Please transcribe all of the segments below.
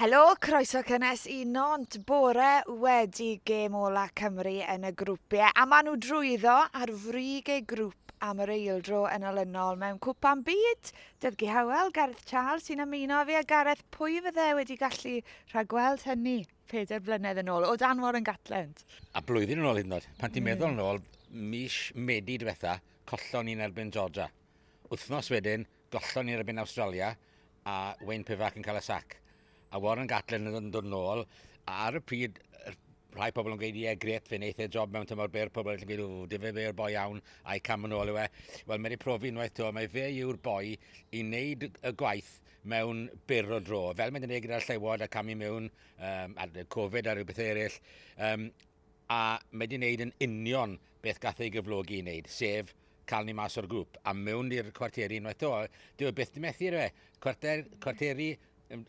Helo, croeso cynnes i Nantes bore wedi gêm ola Cymru yn y grwpiau a maen nhw drwyddo ar frig eu grŵp am yr eildro yn olynol mewn cwpan byd. Dyddgu Hywel, Gareth Charles sy'n ymuno â fi a Gareth, pwy fydde wedi gallu rhagweld hynny peder blynedd yn ôl o dan Warren Gatland? A blwyddyn yn ôl hyd yn oed, pan ti'n meddwl yn ôl, mis Medi diwetha, collon ni'n erbyn Georgia. Wythnos wedyn, Gollon ni'r erbyn Awstralia a Wayne Pivac yn cael y sac. A Warren Gatland yn dod yn ôl. A ar y pryd, rhai pobl yn gweud, ie, gret, fe'n eitha e job mewn tymor byr, pobl yn gweud, o, dife fe yw'r boi iawn, a'i cam yn ôl yw e. Wel, mae wedi profi unwaith to, mae fe yw'r boi i wneud y gwaith mewn byr o dro. Fel mae'n gwneud gyda'r llewod a camu mewn um, ar Covid a rhywbeth eraill, um, a mae wedi neud yn union beth gath ei gyflogi i neud, sef cael ni mas o'r grwp a mewn i'r cwarteri unwaith 'to. Dyw e byth 'di methu ydyw e? Cwarter, cwarteri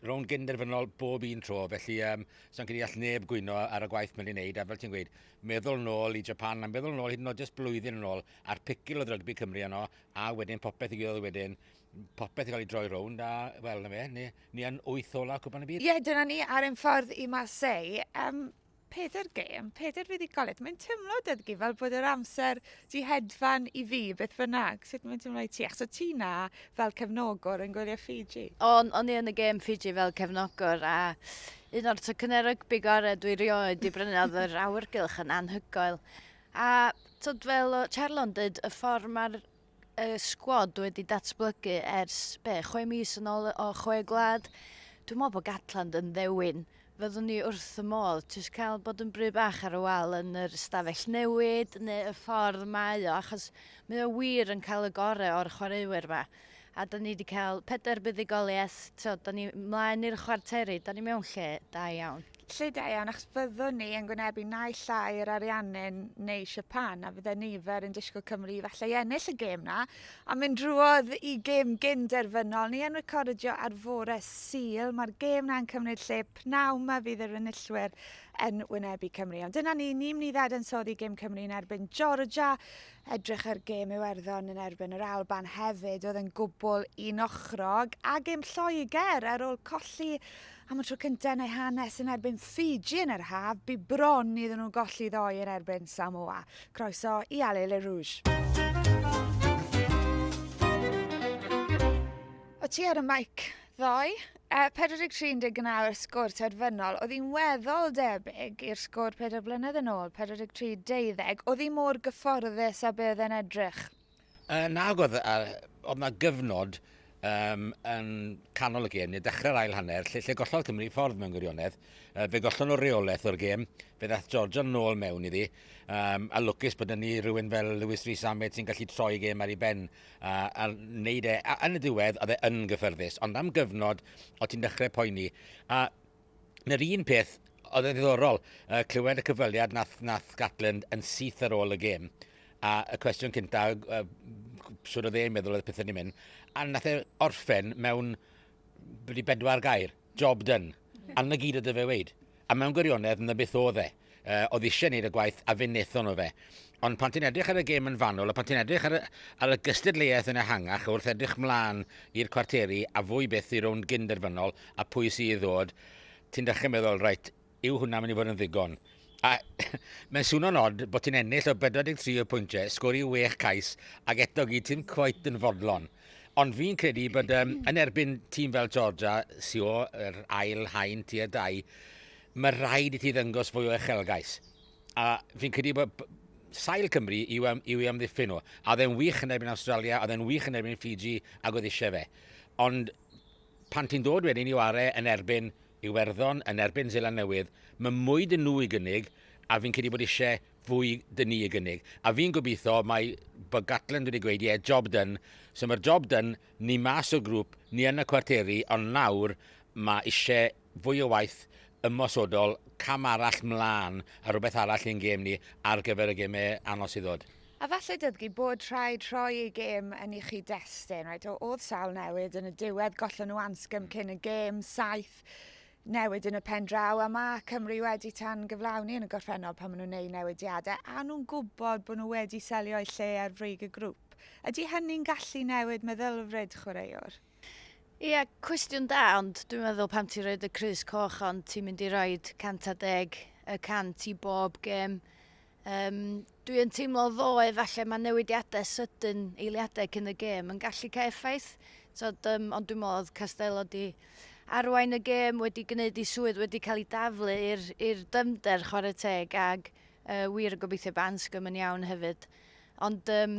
rownd gyn-derfynol bob un tro, felly um, sa'n credu all neb gwyno ar y gwaith mae'n ei wneud, a fel ti'n gweud, meddwl nôl i Japan, a meddwl nôl hyd yn oed jyst blwyddyn yn ôl, a'r picil oedd rygbi Cymru yno, a wedyn popeth i gydoedd wedyn, popeth i gael ei droi rownd, a wel, na fe, ni, ni yn wyth ola Cwpan y Byd. Ie, yeah, dyna ni ar ein ffordd i Marseille. Um, Pedair gêm, pedair fuddugoliaeth. Mae'n teimlo, Dyddgu, fel bod yr amser di hedfan i fi, beth bynnag. Sut mae'n teimlo i ti? Achos o ti na fel cefnogwr yn gwylio Fiji. O'n, o'n i yn y gêm Fiji fel cefnogwr a un o'r tycynnau rygbi gorau dwi rioed di brynu oedd yr awyrgylch yn anhygoel. A tyd fel o Charlo'n dyd, y ffordd mae'r y sgwad wedi datblygu ers, be, chwe mis yn ôl o chwe gwlad. Dwi'n meddwl bod Gatland yn ddewin. Fyddwn ni wrth y modd jyst cael bod yn bry bach ar y wal yn yr ystafell newid neu y ffordd mae o, achos mae o wir yn cael y gorau o'r chwaraewyr yma. A da ni wedi cael pedair buddugoliaeth, so da ni mlaen i'r chwarteri, da ni mewn lle da iawn. Felly da iawn achos fyddwn ni yn gwynebu naill llai yr Ariannin neu Siapan a fydde nifer yn disgwyl Cymru i falle ennill y gêm na a mynd drwodd i gêm gyn derfynol ni yn recordio ar fore Sul mae'r gêm na'n cymryd lle pnawn ma fydd yr enillwyr yn wynebu Cymru ond dyna ni ni'n mynd i ddadansoddi gêm Cymru yn erbyn Georgia edrych ar gêm Iwerddon yn erbyn yr Alban hefyd oedd yn gwbl un ochrog a gêm Lloegr ar ôl colli Am y tro cyntaf yn eu hanes yn erbyn Fiji yn yr haf, bu bron iddyn nhw golli ddoe yn erbyn Samoa. Croeso i Allez les Rouges! O ti ar y maic ddoe? Uh, 43 yn deg nawr sgôr terfynol, oedd hi'n weddol debyg i'r sgôr 4 blynedd yn ôl, 43 deuddeg, oedd hi mor gyfforddus a bydd yn edrych. Yy nag oedd a oedd 'na gyfnod yym yn canol y gêm neu dechrau'r ail hanner lle lle gollodd Cymru ffordd mewn gwirionedd. Yy fe gollon nhw reolaeth o'r gêm, fe ddaeth Georgia nôl mewn iddi um, a lwcus bod ni rhywun fel Lewis Rees Ahmed sy'n gallu troi y gêm ar ei ben a, a wneud e. A yn y diwedd oedd e yn gyffyrddus, ond am gyfnod o ti'n dechrau poeni. A Na'r un peth, oedd yn ddiddorol uh, clywed y cyfweliad nath, nath Gatland yn syth ar ôl y gêm. A y cwestiwn cynta, uh, sŵr o dde'n meddwl oedd pethau ni'n mynd. A nath e orffen mewn wedi bedwar gair, job done. A na gyd oedd y fe weid. A mewn gwirionedd, na beth oedd e. Yy, oedd eisiau wneud y gwaith a fe wnaethon nhw fe. Ond pan ti'n edrych ar y gêm yn fanwl a pan ti'n edrych ar y, ar y gystadleuaeth yn ehangach wrth edrych mlaen i'r cwarteri a fwy byth i rownd gyn-derfynol a pwy sydd i ddod, ti'n dechrau meddwl, reit, yw hwnna mynd i fod yn ddigon? A mae'n swno'n od bod ti'n ennill o 43 o pwyntiau, sgori wech cais ac eto gyd ti'n cweit yn fodlon. Ond fi'n credu bod um, yn erbyn tîm fel Georgia, Sio, yr ail haen, tier dau, Mae rhaid i ti ddangos fwy o echelgais. A fi'n credu bod sail Cymru yw, am, yw i amddiffyn nhw. A oedd e'n wych yn erbyn Australia, oedd e'n wych yn erbyn Fiji, ac oedd eisiau fe. Ond pan ti'n dod wedyn i ware yn erbyn Iwerddon, yn erbyn Zeland Newydd, mae mwy dyn nhw i gynnig, a fi'n credu bod eisiau fwy dyn ni i gynnig. A fi'n gobeithio mae bod Gatland wedi gweud, ie, yeah, job done. So mae'r job done, ni mas o grŵp, ni yn y cwarteri, ond nawr mae eisiau fwy o waith ymosodol, cam arall 'mlân a rhywbeth arall i'n gêm ni ar gyfer y gemau anodd sydd ddod. A falle dybgu bod rhaid rhoi eu gêm yn ei chyd-destun, reit, o'dd sawl newid yn y diwedd, gollon nhw Anscombe cyn y gêm, saith newid yn y pen draw, a ma' Cymru wedi tan-gyflawni yn y gorffennol pan ma' nhw'n neud newidiade, a nhw'n gwbod bod nhw wedi selio eu lle ar frig y grŵp. Ydi hynny'n gallu newid meddylfryd chwaraewr? Ia, cwestiwn da, ond dwi'n meddwl pan ti'n rhoi y crys coch ond ti'n mynd i roi 110 y cant i bob gêm, um, dwi yn teimlo ddoe falle mae newidiadau sydyn eiliadau cyn y gêm yn gallu cael effaith, Tod, um, ond dwi'n meddwl oedd Castello di arwain y gêm wedi gwneud ei swydd wedi cael ei daflu i'r dymder chwarae teg ag uh, wir yn gobeithio bod Anscombe yn iawn hefyd. Ond um,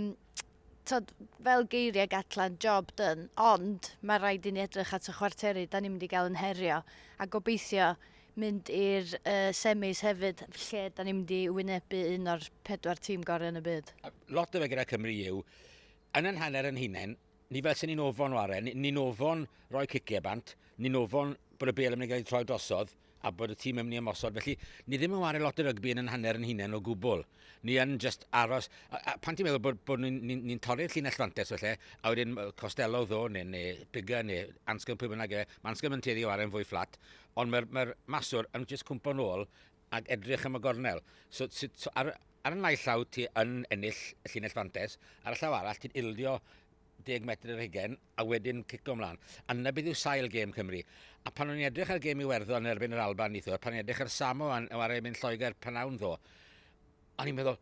t'od fel geirie Gatland, job done, ond ma' raid i ni edrych at y chwarteri 'dan ni'n mynd i ga'l yn herio, a gobeithio mynd i'r uh, semis hefyd lle 'dan ni'n mynd i wynebu un o'r pedwar tîm gorau yn y byd. Lot o fe gyda Cymru yw, yn yn hanner yn hunain, ni fel sy'n ni'n ofon o arren, ni'n ofon roi cicio bant, ni'n ofon bod y bel yn mynd i gael ei troi drosodd, a bod y tîm yn mynd i ymosod. Felly, ni ddim yn wario lot o rygbi yn yn hanner yn hunain o gwbl. Ni yn just aros... A, a pan ti'n meddwl bod, bod ni'n ni, ni torri'r llinell fantes felly, a wedyn Costello ddo, neu, neu Bigger, neu Anscombe, pwy bynnag e, mae Anscombe yn tueddu o arau'n fwy fflat, ond mae'r mae maswr yn just cwmpo'n ôl ac edrych am y gornel. So, so, so ar, ar y naill llaw ti yn ennill y llinell fantes, ar y llaw arall ti'n ildio 10 metr yr hugen a wedyn cico ymlaen. A dyna beth yw sail gêm Cymru. A pan o'n i'n edrych ar gêm Iwerddon yn erbyn yr Alban neithiwr, pan o'n i'n edrych ar Samo yn wario mynd Lloegr pan awn ddo, o'n i'n meddwl,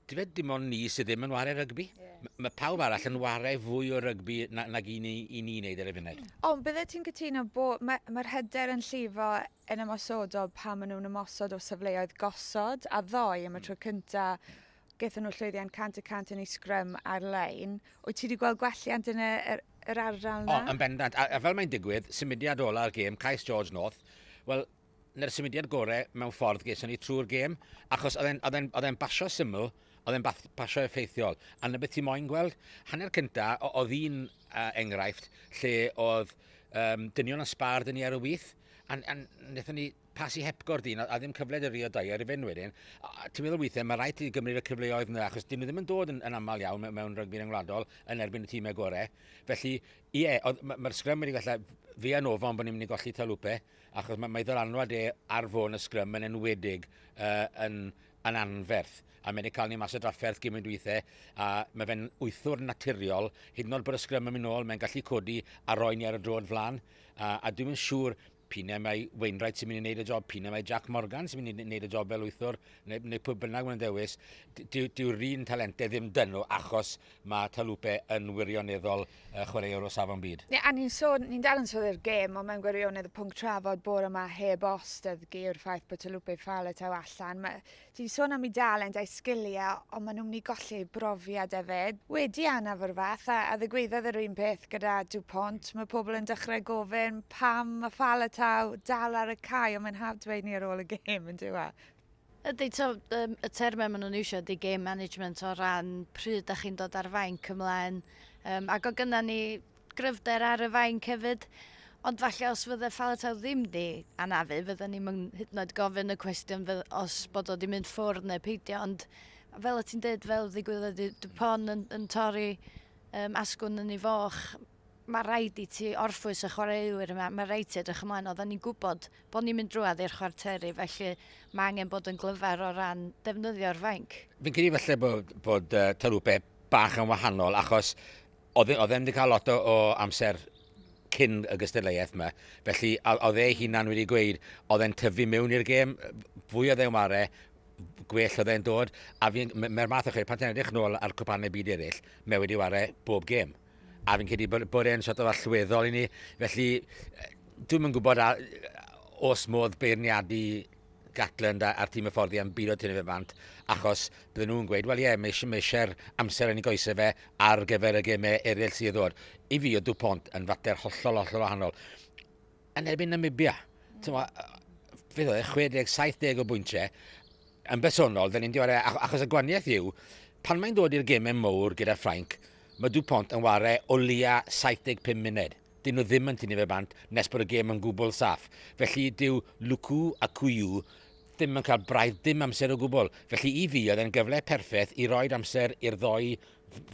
dy fe dim ond ni sydd ddim yn wario rygbi. Yes. Mae pawb arall yn wario fwy o rygbi na, nag i ni, i ni wneud ar y funud. O, bydde ti'n cytuno bod mae'r mae hyder yn llifo yn ymosodol pan maen nhw'n ymosod o safleoedd gosod a ddoe am y mm. tro cyntaf gaethon nhw llwyddiant 100 y cant yn ei sgrym ar-lein. Wyt ti wedi gweld gwelliant yn y, yr, yr ardal yna? O, yn bendant. A, a fel mae'n digwydd, symudiad ola'r gêm, Cais George North, wel, na'r symudiad gorau mewn ffordd geson ni trwy'r gêm, achos oedd e'n basio syml, oedd e'n basio effeithiol. A na beth ti moyn gweld. Hanner cynta, oedd un uh, enghraifft lle oedd um, dynion yn sbar dyn ni ar y wyth, a, a wnaethon ni Pasi hepgor dyn a ddim cyfle dy rio dair i fyn wedyn. Ti'n meddwl weithiau mae rhaid ti gymryd y cyfleoedd yna achos dyn nhw ddim yn dod yn, yn aml iawn mewn rygbi ryngwladol yn erbyn y tîmau gorau. Felly, ie, yeah, mae'r ma sgrym wedi gallu fi a Nova ond bod ni'n mynd i golli Talupe achos mae, mae ddylanwad e ar fôn y sgrym yn enwedig uh, yn, yn anferth a mae'n cael ni mas o drafferth gymryd weithiau a mae fe'n wythwr naturiol hyd yn oed bod y sgrym yn mynd nôl mae'n gallu codi a roi ni ar y drod flan a, a dwi'n mynd siŵr P'un mai Wainwright sy'n mynd i wneud y job, p'un mai Jac Morgan sy'n mynd i wneud y job fel wythwr, neu, neu pwy bynnag mae'n dewis, dyw'r dyw un talentau ddim dynnu achos mae Taulupe yn wirioneddol uh, chwaraewr o safon byd. Ie, a ni'n sôn, ni'n dal yn sôn i'r gêm, ond mae'n gwirionedd y pwnc trafod bore yma heb os, dydd geir ffaith bod Taulupe Faletau allan. Mae Ti 'di sôn am eu dalent a'u sgiliau ond maen nhw'n mynd i golli eu brofiad hefyd. Wedi anaf o'r fath, a ddigwyddodd yr un peth gyda DuPont, mae pobl yn dechrau gofyn pam mae Faletau dal ar y cae ond mae'n hawdd dweud ni ar ôl y gêm yn dyw e? Ydy, to, um, y termau maen nhw'n eisiau ydy game management o ran pryd da chi'n dod ar fainc ymlaen. Um, ac o gyna ni gryfder ar y fainc hefyd. Ond falle os fydde Faletau ddim di anafu, fydden ni'n mynd hyd yn oed gofyn y cwestiwn fydd, os bod o di mynd ffwrdd neu peidio. Ond fel y ti'n dweud, fel ddigwyddodd di Dupont yn, yn torri um, asgwn yn ei foch, mae rhaid i ti orffwys y chwaraewyr yma, mae rhaid ti edrych ymlaen. Oedden ni'n gwybod bod ni'n mynd drwad i'r chwarteri, felly mae angen bod yn glyfar o ran defnyddio'r fainc. Fi'n credu falle bod, bod uh, Tarwpe bach yn wahanol, achos Oedd e oedd e'm 'di cael lot o o amser cyn y gystadleuaeth 'ma, felly a- oedd ei hunan wedi gweud oedd e'n tyfu mewn i'r gêm, fwy oedd e'n ware, gwell oedd e'n dod, a fi'n... m- mae'r math o chwe- pan ti'n edrych nôl ar cwpanau byd eraill, mae wedi ware bob gêm. A fi'n credu bod bod e'n sort of allweddol i ni, felly yy dwi'm yn gwybod a- os modd beirniadu Gatland a'r tîm hyfforddi am bilo tynnu fe bant, achos bydden nhw'n gweud, wel ie, mae eisiau'r amser yn ei goesau fe ar gyfer y gemau eraill sydd ddod. I fi, oedd Dupont yn fater hollol, hollol wahanol. Yn erbyn Namibia, fe ddod e, 60, 70 o bwyntiau, yn bersonol, dda ni'n diware, achos y gwaniaeth yw, pan mae'n dod i'r gemau mowr gyda Ffrainc, mae Dupont yn ware o leia 75 munud. 'dyn nhw ddim yn tynnu fe bant nes bod y gêm yn gwbl saff. Felly dyw Luku a Kuyu ddim yn cael braidd dim amser o gwbl. Felly i fi oedd e'n gyfle perffeth i roed amser i'r ddoi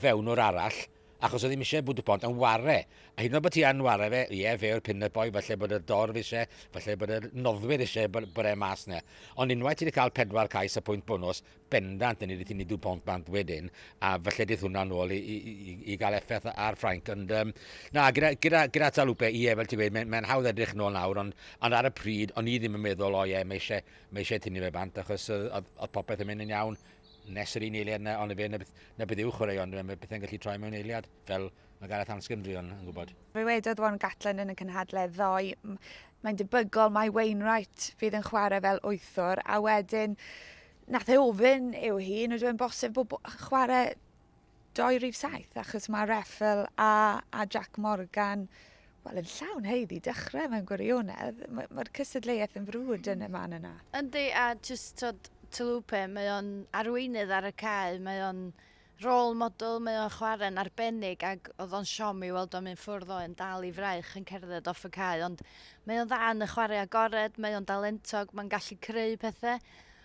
fewnwr arall achos oedd ddim eisiau bod y pont yn ware. A hyd yn oed bod ti yn ware fe, ie, fe yw'r pin-up boy, falle bod y dorf eisiau, falle bod y noddwyr eisiau bod, bod e mas na. Ond unwaith ti wedi cael pedwar cais a pwynt bonws, bendant yn edrych i ni dŵ pont bant wedyn, a falle dydd hwnna nôl i, i, i, i gael effaith ar Ffrainc. Ond, um, na, gyda, gyda, gyda Talupe, ie, fel ti'n gweud, mae'n mae hawdd edrych nôl nawr, ond, ond ar y pryd, o'n i ddim yn meddwl, o ie, mae eisiau, mae eisiau tynnu fe bant, achos oedd, oedd popeth yn mynd yn iawn nes yr un eiliad yna, ond y fe, na beth, na beth yw chwaraeon, mae pethau'n gallu troi mewn eiliad, fel, Mae Gareth am sgymdrion yn gwybod. Ddywedodd Warren Gatland yn y cynhadledd ddoe, mae'n debygol mai Wainwright fydd yn chwarae fel wythwr, a wedyn nath e ofyn i'w hun, ydw e'n bosib bod chwarae doi rif saith, achos mae Reffel a, a Jack Morgan wel, yn llawn heiddi dechrau mewn gwirionedd. Mae'r ma cysadleuaeth yn frwd yn y man yna. Yndi, a jyst tod Tylwpe, mae o'n arweinydd ar y cae, mae o'n Rôl model mae o'n chware'n arbennig ac oedd o'n siom i weld o'n mynd ffwrdd o yn dal i fraich yn cerdded off y cae ond mae o'n dda yn y chwarae agored, mae o'n dalentog, mae'n gallu creu pethe.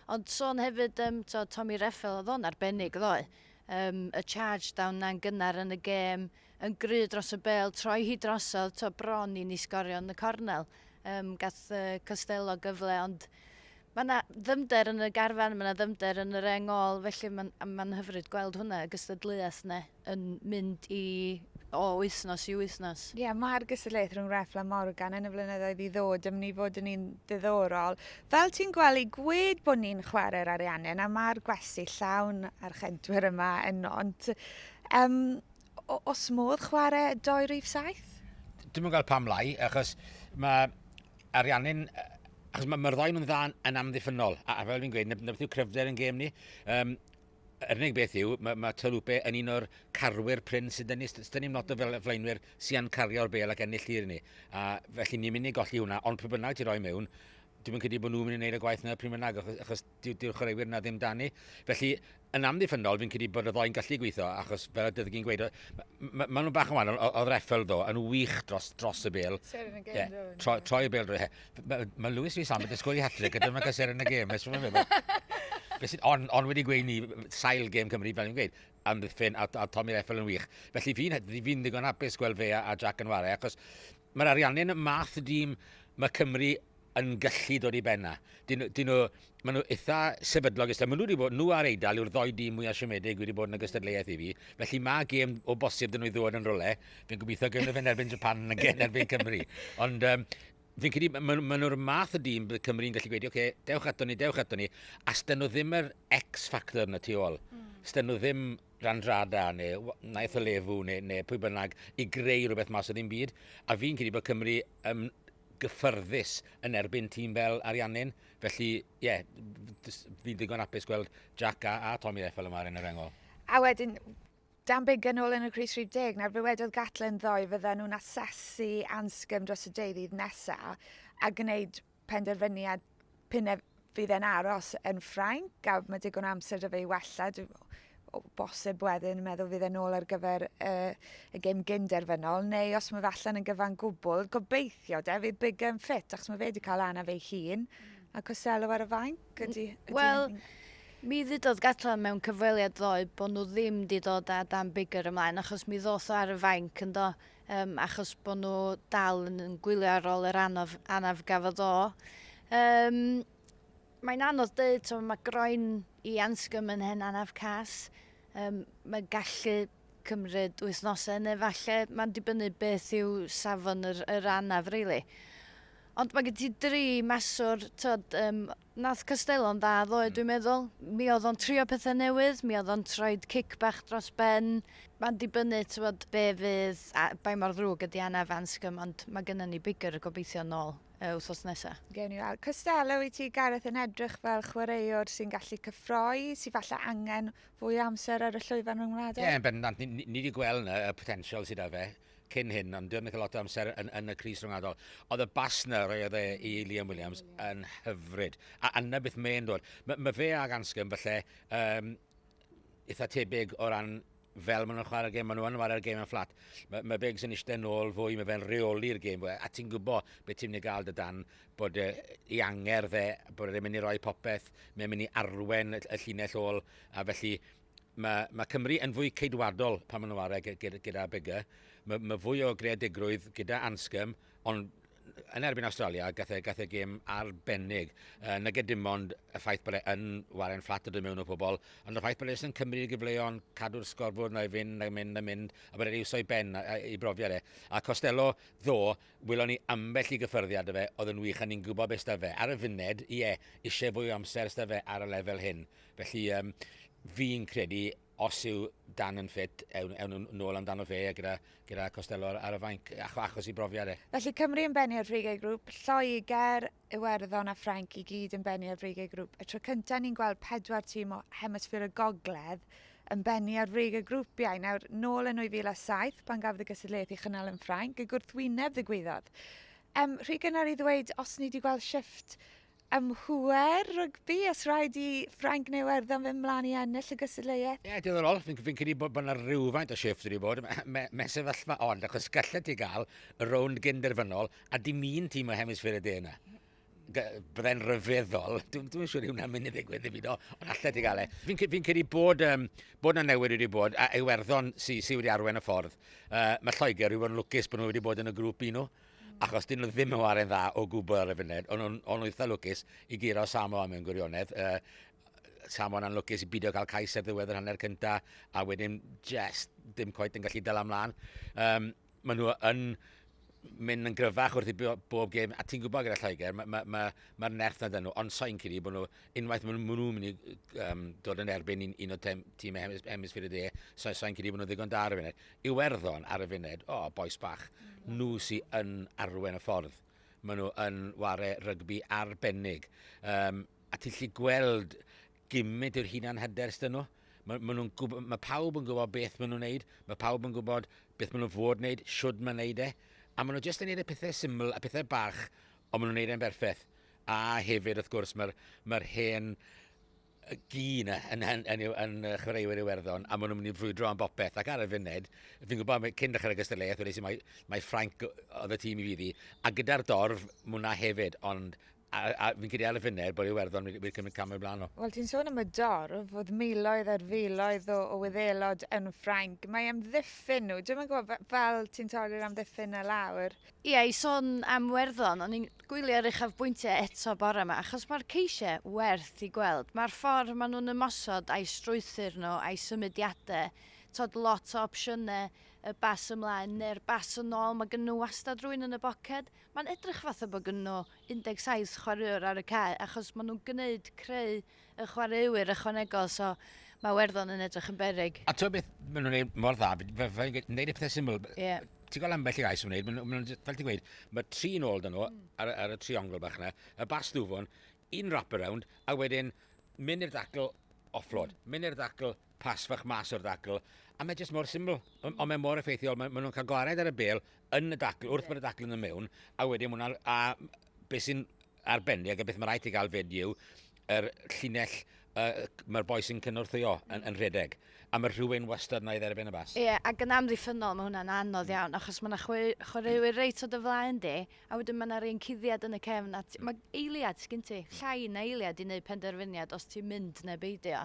Ond sôn hefyd yym t'o' Tommy Reffell oedd o'n arbennig ddoe. Yym y charge down 'na'n gynnar yn y gêm, yn gry dros y bêl, troi hi drosodd, t'o' bron i ni sgorio yn y cornel. Yym gath yy Costelow gyfle ond Mae yna ddyfnder yn y garfan, mae yna ddyfnder yn yr engol, felly mae'n ma hyfryd gweld hwnna, y gystadleuaeth yna, yn mynd i o wythnos i wythnos. Ie, yeah, mae'r gystadleuaeth rhwng Refl a Morgan yn y flynyddoedd i ddod yn mynd i fod yn un diddorol. Fel ti'n gwely, gwed bod ni'n chwarae'r Ariannin a mae'r gwesti llawn a'r chedwyr yma yn nont. Um, o- os modd chware doi rif saith? Dwi'n yn gweld pam lai, achos mae Ariannin... Achos mae'r ma ddoi nhw'n dda yn amddiffynol, a, a fel fi'n gweud, na beth yw cryfder yn gêm ni. Um, yr unig beth yw, mae, mae Tolupe yn un o'r carwyr pryn sydd yn ni. Dyn ni'n lot o fel flaenwyr sy'n cario'r bel ac ennill tir ni. A felly ni'n mynd i golli hwnna, ond pryd bynnag ti roi mewn, dwi'n credu bod nhw'n mynd i wneud y gwaith yna pryd bynnag, achos, achos dyw'r dyw chwaraewyr yna ddim dan ni. Felly, yn amddiffynol, fi'n credu bod y ddoi'n gallu gweithio, achos fel y dydych chi'n gweud, mae ma nhw'n bach yn wahanol, oedd Reffel ddo, yn wych dros, dros y bel. Seren y gêm, yeah. ddo. Troi, troi y bel drwy. Mae ma Lewis Rhys Ambed yn sgwrdd i hatrig, a dyma gael seren y gêm. Fe sy'n on, on wedi gweud ni, sail gêm Cymru, fel i'n gweud, amddiffyn, a, a Tommy Reffel yn wych. Felly fi'n fi, fi ddigon hapus gweld fe a, a Jack yn ware, achos mae'r ariannu yn y math y dîm mae Cymru yn gallu dod i ben 'na. Dyn, dyn nhw, maen nhw eitha sefydlog ystod. Maen nhw wedi bod, nhw a'r Eidal yw'r ddoi dîm mwyaf siomedig wedi bod yn y gystadleuaeth i fi. Felly mae gêm o bosib dyn nhw i ddod yn rolau. Fi'n gobeithio gym nhw fe'n erbyn Japan yn gen erbyn Cymru. Ond um, fi'n credu, maen ma nhw'r math o dîm bydd Cymru'n gallu gweud, oce, okay, dewch ato ni, dewch ato ni. A styn nhw ddim yr X-factor yna tu ôl. Mm. Styn nhw ddim Randrada neu Naeth o Lefu neu, neu pwy bynnag i greu rhywbeth mas o ddim byd. A fi'n credu bod Cymru um, gyffyrddus yn erbyn tîm fel Ariannin. Felly, ie, fi'n ddigon apus gweld Jack a, a Tommy F fel y mae yn yr engol. A wedyn, Dan Big yn ôl yn y Cris 30, nawr fe wedodd Gatlen ddoe fydden nhw'n asesu ansgym dros y deuddydd nesaf a gwneud penderfyniad P'un ef fydd e'n aros yn Ffrainc a ma' digon o amser 'da fe i wella dwi o o bosib wedyn yn meddwl fydd e nôl ar gyfer y y gêm gyn derfynol neu os ma' fe allan yn gyfan gwbwl gobeithio 'de fydd Biggar yn ffit achos ma' fe 'di ca'l anaf ei hun hmm. a Costello ar y fainc ydi... Wel mi ddudodd Gatland mewn cyfweliad ddoe bo' nhw ddim 'di dod â Dan Biggar ymlaen achos mi ddoth o ar y fainc yndo? Yym, achos bod nhw dal yn, yn gwylio ar ôl yr anodd, anaf gafodd o. Um, mae'n anodd dweud, so mae groen i ansgym yn hen anaf cas. Um, mae gallu cymryd wythnosau neu falle mae'n dibynnu beth yw safon yr, yr anaf, really. Ond mae gen ti dri maswr, tod, um, Nath Castello'n dda ddoe dwi'n meddwl. Mi oedd o'n trio pethe newydd, mi oedd o'n troed cic bach dros ben. Ma'n dibynnu t'wod be' fydd a bai mor ddrwg ydi Anna of Anscombe ond ma' gynnon ni bigger gobeithio nôl yy wthnos nesa. Gewn ni weld. Costello i ti Gareth yn edrych fel chwaraewr sy'n gallu cyffroi, sy falle angen fwy o amser ar y llwyfan rhyngwladol? Ie yn bendant ni ni ni 'di gweld 'na y potensial sy 'da fe. cyn hyn, ond dwi'n cael lot o amser yn, yn y Cris Rhwngwladol. Oedd y bas na roedd e i Liam Williams yn hyfryd. A yna beth mae'n dod. Mae ma fe ag Anscombe falle um, eitha tebyg o ran fel maen nhw'n chwarae'r gêm, maen nhw'n chwarae'r gêm yn fflat. Mae, ma Biggs yn eistedd nôl fwy, mae fe'n reoli'r gêm fwy. A ti'n gwybod beth ti'n mynd i gael dy dan, bod e, i anger fe, bod e'n mynd i roi popeth, mae'n mynd i arwen y, y llinell ôl, a felly Mae, mae Cymru yn fwy ceidwadol pan maen nhw ar e gyda Biggar. Mae, mae fwy o greadigrwydd gyda Anscombe, ond yn erbyn Australia, gath e, gath e gêm arbennig. Uh, nage dim ond y ffaith bod e yn waren fflat o dod mewn o pobl, ond y ffaith bod e yn cymryd i gyfleon, cadw'r sgorfwr na i fynd, na i mynd, na i mynd, a bod e'n iwsio i ben, i brofiad e. A Costello, ddo, wylon ni ambell i gyffyrddiad o fe, oedd yn wych, a ni'n gwybod beth da fe. Ar y funed, ie, eisiau fwy o amser da fe ar y lefel hyn. Felly, um, fi'n credu os yw Dan yn ffit, ewn, ewn nhw'n ôl amdano fe gyda, gyda Costello ar, y fainc, ach, achos i brofiad e. Felly Cymru yn bennu ar frigiau grŵp, Lloegr, Iwerddon a Ffrainc i gyd yn bennu ar frigiau grŵp. Y tro cyntaf ni'n gweld pedwar tîm o hemisffer y gogledd yn bennu ar frig y grwpiau. Nawr, nôl yn 2007, pan gafodd y gysadleuaeth i chynnal yn Ffrainc, y gwrthwyneb ddigwyddodd. Um, rhy gynnar i ddweud os ni wedi gweld shift Am hwyr rygbi, os rhaid i Ffrainc neu Iwerddon fynd mlaen i ennill y gystadleuaeth? Ie, diddorol. Fi'n fi credu bod, bod yna rhywfaint o shift wedi bod. Mae me, sefyllfa ond, achos gallet ti gael y rownd gynderfynol a dim un tîm o hemisffer y de yna. Byddai'n rhyfeddol. Dwi'n dwi siŵr i hwnna'n mynd i ddigwydd i fi, no, ond allet ti gael e. Fi'n fi credu bod, um, bod yna newid wedi bod, a Iwerddon sydd sy wedi arwen y ffordd. Uh, mae Lloegr wedi bod yn lwcus bod nhw wedi bod yn y grŵp un nhw. achos dyn nhw ddim yn ware'n dda o gwbl ar y funud, ond nhw'n on eitha lwcus i giro Samoa mewn gwirionedd. Uh, Samoa'n anlwcus i bidio cael cais ar ddiwedd yr hanner cynta, a wedyn jest dim coet yn gallu dal amlan. Um, maen nhw yn mynd yn gryfach wrth i bob gêm, a ti'n gwybod gyda Lloegr, mae'r ma, ma, ma, ma nerth na dyn nhw, ond sain credu bod nhw, unwaith maen nhw'n mynd i um, dod yn erbyn un, un o tîmau hemisfyr y de, sain credu bod nhw ddigon da ar y funud. Iwerddon ar y funud, o, bois bach, nhw sy yn arwen y ffordd. Maen nhw yn ware rygbi arbennig. Um, a ti'n lli gweld gymryd yw'r hunan hyder ystyn nhw. Mae, ma nhw'n gwybod, mae pawb yn gwybod beth maen nhw'n neud, mae pawb yn gwybod beth maen nhw'n fod wneud, siwrd maen neud e, a maen nhw jyst yn neud y pethau syml a pethau bach, ond maen nhw'n neud e'n berffaith. A hefyd, wrth gwrs, mae'r mae hen y gyn yn, yn, yn, yn, yn chwaraewyr Iwerddon a maen nhw'n mynd i frwydro am bopeth ac ar y funud fi'n gwybod cyn dechrau'r gystadleuaeth wedi sy'n mae, mae Ffranc oedd y tîm i fi ddi a gyda'r dorf mwna hefyd ond a, a fi'n credu ar y funud bod Iwerddon wedi, wedi cymryd camau blaen nhw. Wel, ti'n sôn am y dorf, oedd miloedd ar filoedd o, o wyddelod yn Ffrainc. Mae am ddiffyn nhw. Dwi'n gwybod, fel ti'n torri'r amddiffyn na lawr. Ie, yeah, i sôn am Werddon, o'n i'n Gwyliau'r uchafbwyntiau eto bore ma, achos mae'r ceisiau werth i gweld. Mae'r ffordd maen nhw'n ymosod a'i strwythur nhw, a'i symudiadau, tibod lot o opsiynau, y bas ymlaen neu'r bas yn ôl, mae gennyn nhw wastad rhywun yn y boced. Mae'n edrych fatha bod gennyn nhw 17 chwaraewr ar y cae, achos maen nhw'n gwneud, creu y chwaraewyr ychwanegol, so mae Werddon yn edrych yn berig. A ti'n beth, maen nhw'n gwneud mor dda, fel yn gwneud y pethau syml. Yeah. Ti'n gweld ambell i gais yn gwneud, maen nhw, fel ti'n gweud, mae tri nôl dyn nhw mm. ar, ar, y triongl bach yna, y bas ddwfwn, un wrap around, a wedyn mynd i'r ddacl offload, mm. mynd i'r ddacl pas fach mas o'r ddacl, a mae jyst mor syml, ond on mae mor effeithiol, maen ma nhw'n cael gwared ar y bel yn y dacl, wrth yeah. bod y dacl yn y mewn, a wedyn mwynhau, a beth sy'n arbennig a beth mae rhaid i gael fyd yw yr llinell uh, mae'r boi sy'n cynorthwyo yn, mm. yn rhedeg. A mae rhywun wastad na i dderbyn y bas. Ie, yeah, ac yn amddiffynol mae hwnna'n anodd mm. iawn, achos mae yna chwaraewyr reit o dy flaen di, a wedyn mae yna rhywun cuddiad yn y cefn, a mae eiliad sgyn ti, mm. llai na eiliad i wneud penderfyniad os ti'n mynd neu beidio.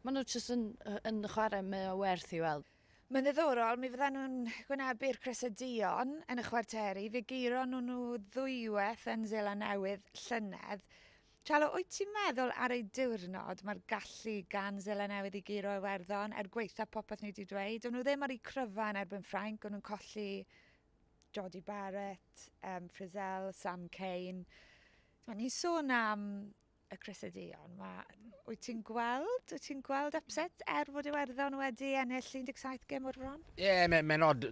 Mae nhw jyst yn, yn chwarae mwy o werth i weld. Mae'n ddiddorol, mi fyddan nhw'n gwynebu'r Crysau Duon yn y chwarteri, fe geiron nhw nhw ddwywaith yn Seland Newydd llynedd. Chalo, wyt ti'n meddwl ar ei diwrnod mae'r gallu gan Seland Newydd i geiro Iwerddon, er gwaetha popeth ni wedi dweud, o'n nhw ddim ar eu cryfa yn erbyn Ffrainc, o'n nhw'n colli Jodie Barrett, um, Frizzell, Sam Cane. Ni'n sôn am y Cresydeion. Ma, wyt ti'n gweld, wyt ti'n gweld upset er fod Iwerddon wedi ennill 17 gem o'r bron? Ie, yeah, mae'n ma nod.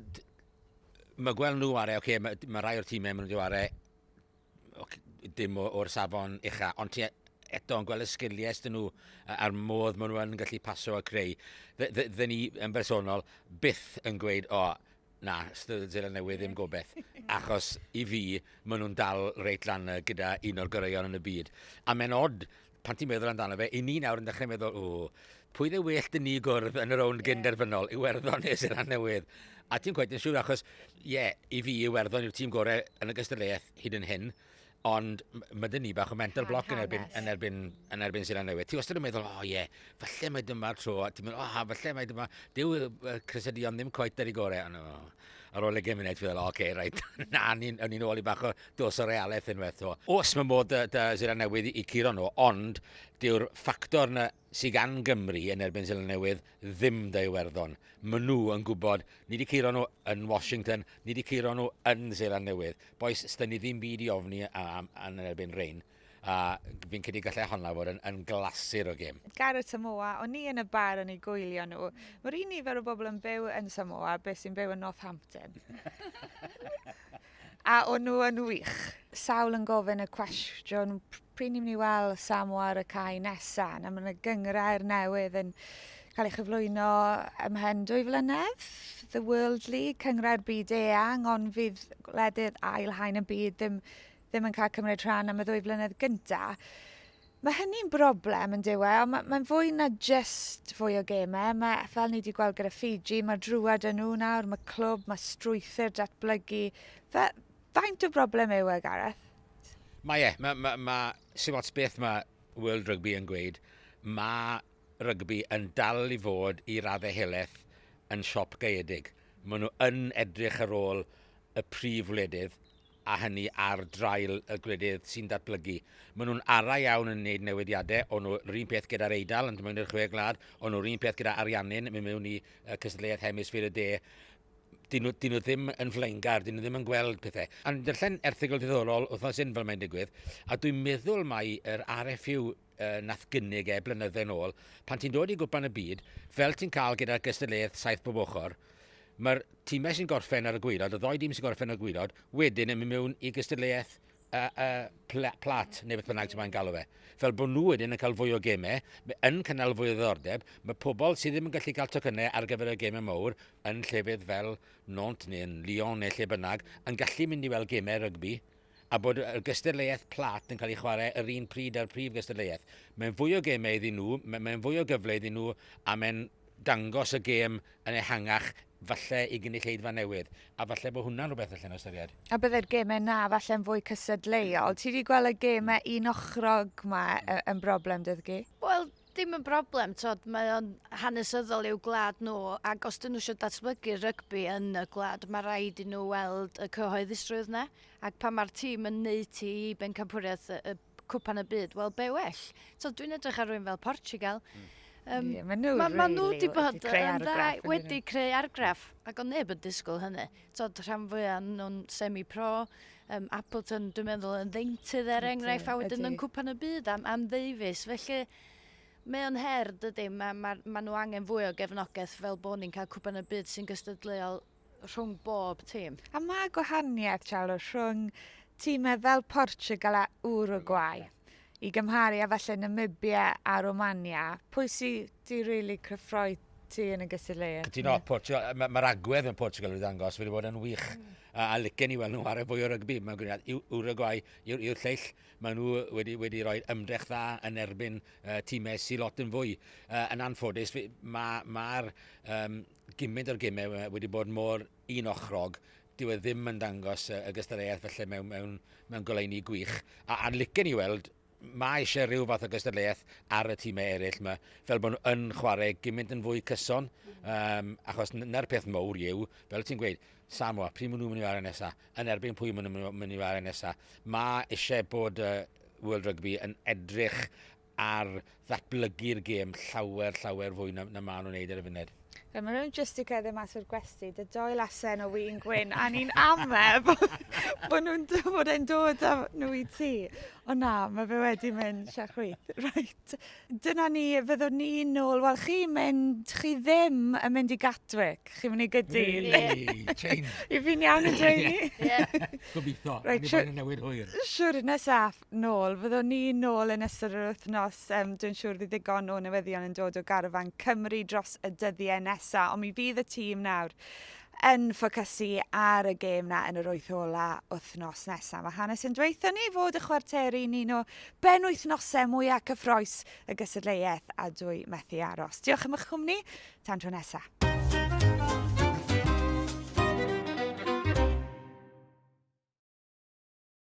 Mae gweld nhw are, okay, mae ma rai o'r tîmau maen nhw'n dweud are, okay, dim o'r safon ucha, ond ti eto yn gweld y sgiliau ystyn nhw a'r modd maen nhw'n gallu paso a creu. Dde ni yn bersonol byth yn gweud, o, oh, Na, Steddfod Seland Newydd ddim gobeth, achos i fi, maen nhw'n dal reit lan y gyda un o'r goreuon yn y byd. A mae'n odd, pan ti'n meddwl amdano fe, i ni nawr yn dechrau meddwl, o, pwy dde well dyn ni gwrdd yn y rownd yeah. gynderfynol, Iwerddon neu Seland Newydd. A ti'n gweud yn siŵr, achos, ie, yeah, i fi, Iwerddon yw'r tîm gorau yn y gystadleuaeth hyd yn hyn. Ond mae dyn ni bach o mental block yn erbyn, yn erbyn, yn erbyn Seland Newydd. Ti wastad yn meddwl, o oh, ie, yeah, falle mae dyma'r tro. Ti'n meddwl, o, oh, falle mae dyma... Dyw uh, Chris a Dion ddim coet ar ei gorau. Ond, oh, ar ôl egin munud, ti'n meddwl, o, oce, okay, rhaid. Na, ni'n ni ôl i bach o dos o realaeth yn werth o. Os mae modd dy, dy Seland Newydd i, i curo nhw, ond dyw'r ffactor na sy gan Gymru yn erbyn Seland Newydd ddim 'da Iwerddon. Maen nhw yn gwybod, ni 'di curo nhw yn Washington, ni 'di curo nhw yn Seland Newydd. Bois, sda ni ddim byd i ofni yn erbyn Rhein. A fi'n credu gallai honna fod yn, yn glasur o gêm. Gareth Samoa, o'n i yn y bar yn ei gwylio nhw. Mae'r un nifer o bobl yn byw yn Samoa beth sy'n byw yn Northampton. A o'n nhw yn wych? Sawl yn gofyn y cwestiwn pryd ni'n mynd i weld Samoa ar y cae nesa? Na, mae yna gyngrau'r newydd yn cael ei chyflwyno ymhen dwy flynedd. The World League, cyngrau'r byd eang, ond fydd gwledydd ail haen y byd ddim, ddim yn cael cymryd rhan am y ddwy flynedd gyntaf. Mae hynny'n broblem yn dyw e, ond mae'n fwy na jyst fwy o gemau. Mae, fel ni wedi gweld gyda Fiji, mae drwad yn nhw nawr, mae clwb, mae strwythur datblygu. Fe, faint o broblem yw e, Gareth? Mae e. Mae, mae, mae Sir Ots beth mae World Rugby yn gweud. Mae rygbi yn dal i fod i raddau helaeth yn siop gaeedig. Maen nhw yn edrych ar ôl y prif wledydd a hynny ar draul y gwledydd sy'n datblygu. Maen nhw'n araf iawn yn wneud newidiadau, o'n nhw'r un peth gyda'r Eidal yn dymwyn i'r Chwe Gwlad, o'n nhw'r un peth gyda Ariannin mynd mewn i cystadleuaeth hemisffer y de. Dyn nhw, dyn nhw ddim yn flaengar, dyn nhw ddim yn gweld pethau. A'n darllen erthigol diddorol wythnos hyn fel mae'n digwydd, a dwi'n meddwl mae yr RFU yy nath gynnig e blynydde nôl, pan ti'n dod i gwpan y byd, fel ti'n cael gyda'r gystadleuaeth saith bob ochr, mae'r timau sy'n gorffen ar y gwaelod, y ddoi dîm sy'n gorffen ar y gwaelod, wedyn yn mynd mewn i gystadleuaeth y, y pla, plat, neu beth bynnag ti'n maen galw fe. Fel bod nhw wedyn yn cael fwy o gemau, yn cynnal fwy o ddordeb, mae pobl sydd ddim yn gallu cael tocynnau ar gyfer y gemau mawr yn llefydd fel Nont neu yn Lyon neu lle bynnag, yn gallu mynd i weld gemau rygbi, a bod y gystadleuaeth plât yn cael ei chwarae yr un pryd â'r prif gystadleuaeth. Mae'n fwy o gemau iddyn nhw, mae'n fwy o gyfle iddyn nhw a mae'n dangos y gêm yn ehangach falle i gynulleidfa newydd, a falle bod hwnna'n rhywbeth allan o ystyried. A byddai'r gemau 'na falle'n fwy cysadleuol. Ti wedi gweld y gemau un-ochrog 'ma yn broblem 'da chi? Wel, Dim yn broblem, tod, mae o'n hanesyddol i'w gwlad nhw, ac os dyn nhw eisiau datblygu rygbi yn y gwlad, mae rhaid i nhw weld y cyhoeddusrwydd yna, ac pan mae'r tîm yn neud ti i bencampwriaeth y, y cwpan y byd, wel be well. So, dwi'n edrych ar rwy'n fel Portugal. Mm. Um, yeah, maen nhw, ma, really, ma nhw wedi bod yn dda, wedi creu argraff, ac o'n neb yn disgwyl hynny. tod, rhan fwya nhw'n semi-pro. Um, Appleton, dwi'n meddwl, yn ddeintydd er enghraifft, a wedyn yn cwpan y byd am, am ddeifus. Felly, Mae o'n her, dydy, mae ma, ma nhw angen fwy o gefnogaeth fel bod ni'n cael cwpan y byd sy'n gystadleuol rhwng bob tîm. A mae gwahaniaeth, Charles, rhwng tîmau fel Portugal a Uruguay. i gymharu a falle Namibia a Romania, pwy sydd wedi really cyffroi ti yn y gystadleuaeth? Cytuno, Portugal, mae'r ma agwedd yn Portugal wedi ddangos, wedi bod yn wych. Mm. A, a licen i weld nhw ar y fwy o rygbi, mae'n gwneud Uruguay yw'r yw lleill. Mae nhw wedi, wedi rhoi ymdrech dda yn erbyn uh, tîmau sy'n lot yn fwy. Uh, yn anffodus, mae'r ma, ma um, gymryd o'r gymau wedi bod mor un ochrog, dyw e ddim yn dangos y gystadleuaeth falle mewn, mewn, mewn goleuni gwych. A, a'n licen ni weld, mae eisiau rhyw fath o gystadleuaeth ar y tîmau eraill yma, fel bod nhw yn chwarae gymaint yn fwy cyson, um, achos na'r peth mowr yw, fel ti'n gweud, Samoa, pryd maen nhw'n mynd i wario nesaf, yn erbyn pwy maen nhw'n mynd i wario nesaf. Mae eisiau bod uh, World Rugby yn edrych ar ddatblygu'r gêm llawer, llawer fwy na, na maen nhw'n neud ar y funud. Fe maen nhw'n just i gerdded mas o'r gwesti, dy doi lasen o wyn gwyn, a ni'n ame bod nhw'n bod e'n dod â nhw i ti. O na, mae fe wedi mynd sia chwyth. Right. Dyna ni, fyddwn ni nôl. Wel, chi mynd, chi ddim yn mynd i Gatwick. Chi'n mynd i gydu. Change. I fi'n iawn yn dweud ni. Gobeithio. Right, siwr. Newid hwyr. Siwr, nesaf. nôl. Fyddwn ni nôl yn ystod yr wythnos. Um, dwi'n siŵr bydd ddigon o newyddion yn dod o garfan Cymru dros y dyddiau nesaf, ond mi fydd y tîm nawr yn ffocysu ar y gêm na yn yr wyth ola wythnos nesaf. Mae hanes yn dweithio ni fod y chwarteri ni'n o ben wythnosau mwyaf cyffroes y gysadleuaeth a dwy methu aros. Diolch am eich cwmni, tan tro nesaf.